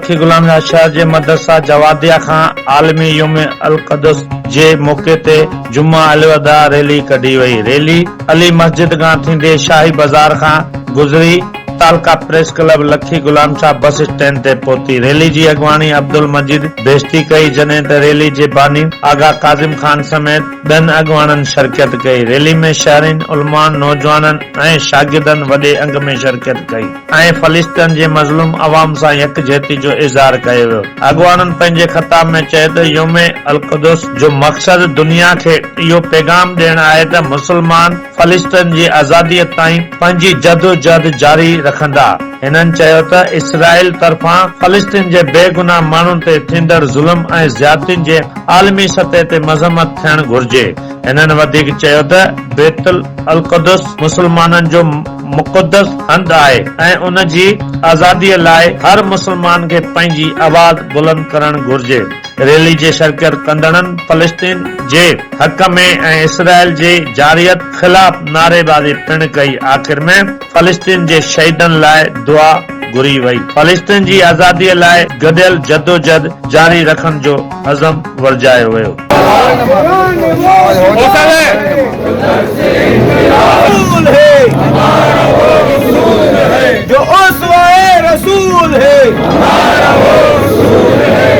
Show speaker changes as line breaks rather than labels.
شيخ غلام نواز شهر جي مدرسه جواديه کان عالمي يوم القدس جي موقعي تي جمعه الوداع ريلي ڪڍي وئي ريلي علي مسجد کان ٿيندي شاهي بازار کان گذري تعلقه پريس ڪلب لکي غلام شاهه بس اسٽينڊ تي پهتي ريلي جي اڳواڻي عبدالمجيد بهشتي ڪئي جڏهن ته ريلي جي باني آغا ڪاظم خان سميت ٻين اڳواڻن شرڪيت ڪئي. ريلي ۾ شهرين، علماء، نوجوانن ۽ شاگردن وڏي انگ ۾ شرڪيت ڪئي ۽ فلسطين جي مظلوم عوام سان يڪجهتي جو اظهار ڪيو ويو. اڳواڻن پنهنجي خطاب ۾ چيو ته يوم القدس جو مقصد دنيا کي اهو پيغام ڏيڻ آهي ته مسلمان، فلسطين جي آزادي تائين پنهنجي جدوجهد جاري رکندا. هنن چيو ته اسرائيل طرفان فلسطين جي بيگناهه ماڻهن تي ٿيندڙ ظلم ۽ زيادتين جي عالمي سطح تي مذمت ٿيڻ گهرجي. هنن وڌيڪ چيو ته بيت القدس مسلمانن جو مقدس هنڌ آهي ۽ ان جي آزادي لاء هر مسلمان کي پنهنجي آواز بلند ڪرڻ گهرجي. ريلي جي شرڪت ڪندڙن فلسطين جي حق ۾ ۽ اسرائيل جي جارحيت خلاف نعريبازي پڻ ڪئي آخر ۾ فلسطين جي شهيدن لاء دعا گهري وئي فلسطين جي آزادي لاء گڏيل جدوجھد جاري رکڻ جو عزم ورجايو ويو.